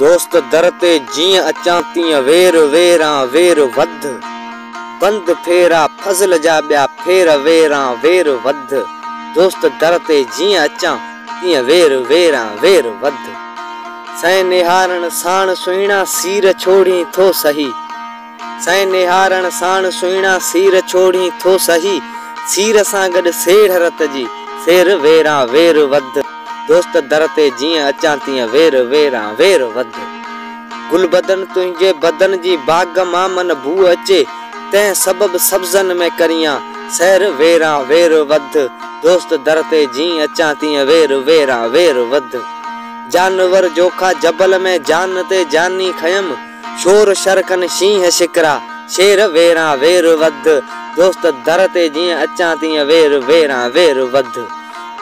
دوست در تي جيئن اچان تيئن وير ويران وير وڌ بند ڦيرا فضل جا ٻيا ڦير ويران وير وڌ دوست در تي جيئن اچان تيئن وير ويران وير وڌ سين نهارڻ ساڻ سهڻا سير ڇوڙين ٿو سهي. سين نهارڻ ساڻ سهڻا سير ڇوڙين ٿو سهي سير سان گڏ سيڙهه رت جي سير ويران وير وڌ دوست در تي جيئن اچان تيئن وير ويران وير وڌ گل بدن تنهنجي بدن جي باغ مان من بوء اچي تنهن سبب سبزن ۾ ڪريان سير ويران وير وڌ دوست در تي جيئن اچان تيئن وير ويران وير وڌ جانور جوکا جبل ۾ جان تي جاني کنيم. شور شر ڪن شينهن شڪرا، شير ويران وير وڌ، دوست در تي جيئن اچان تيئن وير ويران وير وڌ.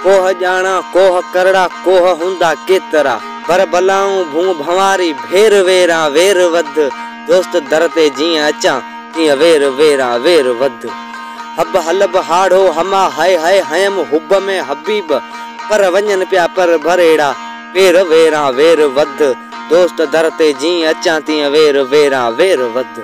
ڪوهه ڄاڻان ڪوهه ڪرڙا، ڪوهه هوندا ڪيترا، ڀر بلائون ڀون ڀنواري، ڀير ويران وير وڌ، دوست در تي جيئن اچان تيئن وير ويران وير وڌ. حب حلب هاڙهو حما هئي هئي هيم حب ۾ حبيب، پر وڃن پيا پر ڀريڙا، وير ويران وير وڌ، دوست در تي جيئن اچان تيئن وير ويران وير وڌ.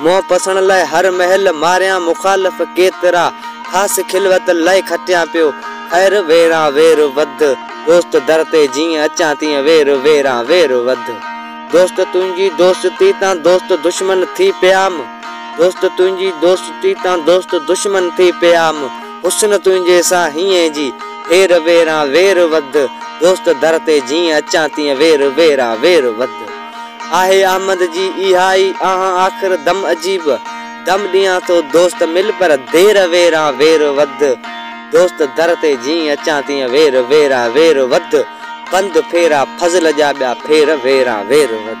منهن پسڻ لاء هر مهل ماريان مخالف ڪيترا، خاص خلوت لاء کٽيان پيو خير ويران وير وڌ، دوست در تي جيئن اچان تيئن وير ويران وير وڌ. دوست تنهنجي دوستي تان دوست دشمن ٿي پيام، دوست تنهنجي دوستي تان دوست دشمن ٿي پيام. حسن تنهنجي سان هينئن جي هير ويران وير وڌ دوست در تي جيئن اچان تيئن وير ويران وير وڌ آهي احمد جي اها ئي آهان آخر دم عجيب دم ڏيان ٿو دوست مل پر دير ويران وير وڌ دوست در تي جيئن اچان تيئن وير ويران وير وڌ بند ڦيرا فضل جا ٻيا ڦير ويران وير وڌ.